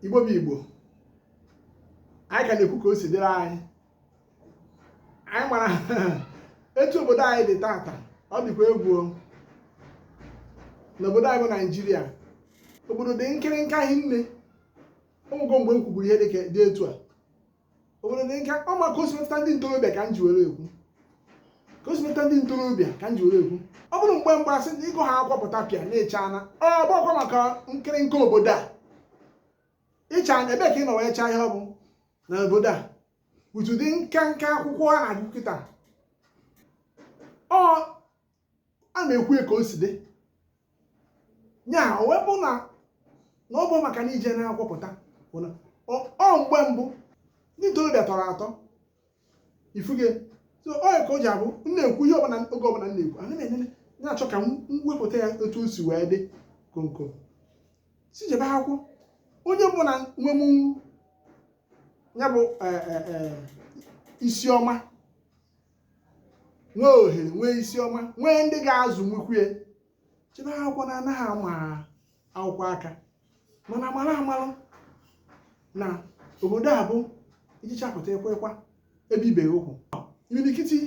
igbo bụ igbo anyị ka na-ekwu ka o si dịrị anyị anyị mara etu obodo anyị dị tata ọ dịkwa egwu n'obodo anyị bụ naijiria obodo dị nkịrịnka hinne o nwego mgbe m kwuburu ihe dị etu a obodo dị nka ọ maka o si metụta ndị ntorobịa ka m ji were ekwu ka o si metụta ndị ntorobịa ka m ji were ekwu ọ bụrụ mgbe mgbe a sị na ị gụcha akwụkwọ pụta bịa na-eche ana ọ bụkwa maka nkịrịnka obodo a ịcha ana ebe ka ị nọ wee chaa ihe ọ bụ na obodo a etu dị nka nka akwụkwọ a na-agụ kịta ọ a na-ekwu ka o si dị ya o wee bụ na na ọ bụ maka na i je na akwụkwọ pụta ọ mgbe mbụ ndị ntorobịa tọrọ atọ ị fụgo so ọ ya ka o ji abụ m na-ekwu ihe ọbụla oge ọbụla m na-ekwu ana m enene na-achọ ka m wepụta ya otu o si wee dị konko si jebe akwụkwọ onye ọbụna nwenụ ya bụ isi ọma nwee ohere nwee isi ọma nwee ndị ga-azụ nwekwue jebe akwụkwọ na anaghị ama akwụkwọ aka mana mara amara na obodo a bụ i jechaa pụta ekwekwa ebibeghị ụkwụ imirikiti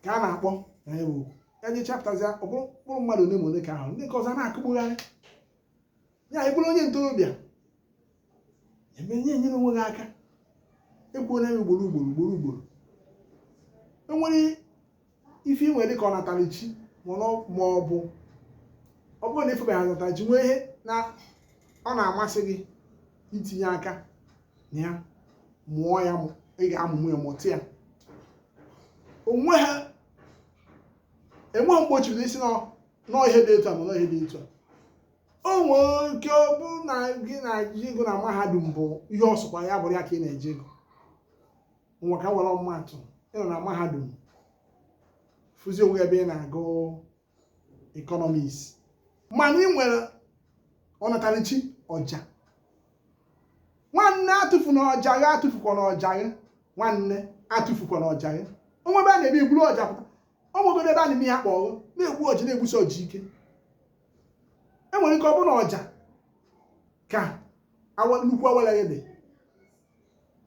ka a na-akpọ na ya bụ ya jechaa pụtazi ọ bụrụ mkpụrụ mmadụ ole ma ole ka ahụ ndị nke ọzọ na-akụgbugharị ya ị bụrụ onye ntorobịa emenye enyere onwe gị aka ekwuola m ya ugboro ugboro ugboro ugboro e nwere ife i nwe dị ka ọnatarachi ma ọ bụ ọ bụrụ na ị fụbeghị ọnatarachi nwee ihe na ọ na-amasị gị itinye aka na ya mụọ ya ị ga-amụ ya mụta ya onwe ha enweghị mgbochiri isi na ọ ihe dị etu a ma na ọ ihe dị etu a o nwere ike ọ bụrụ na ihe ị na-eje agụ na mahadum bụ ihe ọ sọkwa ya bụrụ ya ka ị na-eje agụ ngwa ka were ọmụmaatụ ị nọ na mahadum fụzi onwe ebe ị na-agụ economics mana i nwere ọnatarichi ọja nwanne atụfuna ọja gị atụfukwana ọja gị nwanne atụfukwana ọja gị o nwee ebe a na-eme i buru ọja pụta o nwegodu ebe a na-eme ya kpọọ na-egbu ọja na-egbusi ọja ike e nwere ike ọ bụrụ na ọja ka nnukwu awele gị dị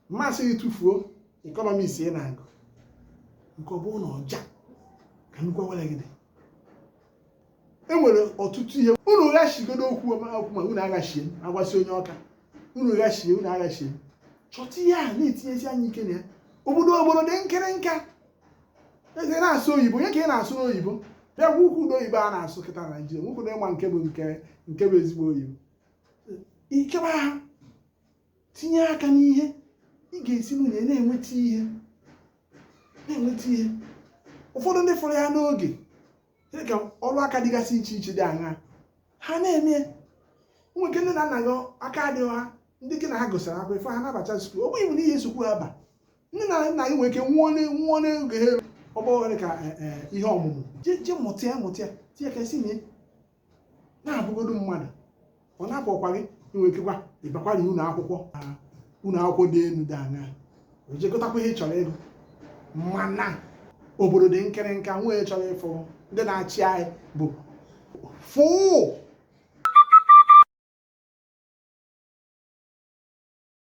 m asịghị gị tụfuo economics ị na-agụ nke ọ bụrụ na ọja ka nnukwu awele gị dị e nwere ọtụtụ ihe unu ghashigodo okwu okwu ma unu aghachie agwasị onye ọka unu ghachie unu aghachie chọta ihe a na-etinyesi anya ike na ya obodo obodo dị nkịrịnka eze na-asụ oyibo onye ka ị na-asụ n'oyibo bịa gwa ukwu ụdị oyibo a na-asụ kịta na naijiria nwoke ụdọ ịma nke bụ nke nke bụ ezigbo oyibo ịchọba ha tinye aka n'ihe ị ga-esi nwee na-enweta ihe na-enweta ihe ụfọdụ ndị fụrụ ya n'oge dị ka ọrụ aka dịgasị iche iche dị aṅa ha na-eme ya. nwee ike nne na nna gị aka adịghị ha ndị gị na ha gụsịrị akwụkwọ ife ha nabata skuul ọ bụghị bụ n'ihi nsogbu ha ba nne na nna gị nwere ike nwụọ ne- nwụọ n'oge ha eru ọ bụ ohere ka eh, eh, ihe ọmụmụ je je mụta ya mụta ya tinye ka e si nwee na-abụgodu mmadụ ọ na-apụkwa gị i nwee ikekwa ịbakwara ụlọ akwụkwọ na ụlọ akwụkwọ dị elu dị aṅa o je gụtakwa ihe ị chọrọ ịgụ mana obodo dị nkịrịnka nwee chọrọ ịfụ ndị na-achị anyị bụ fụụ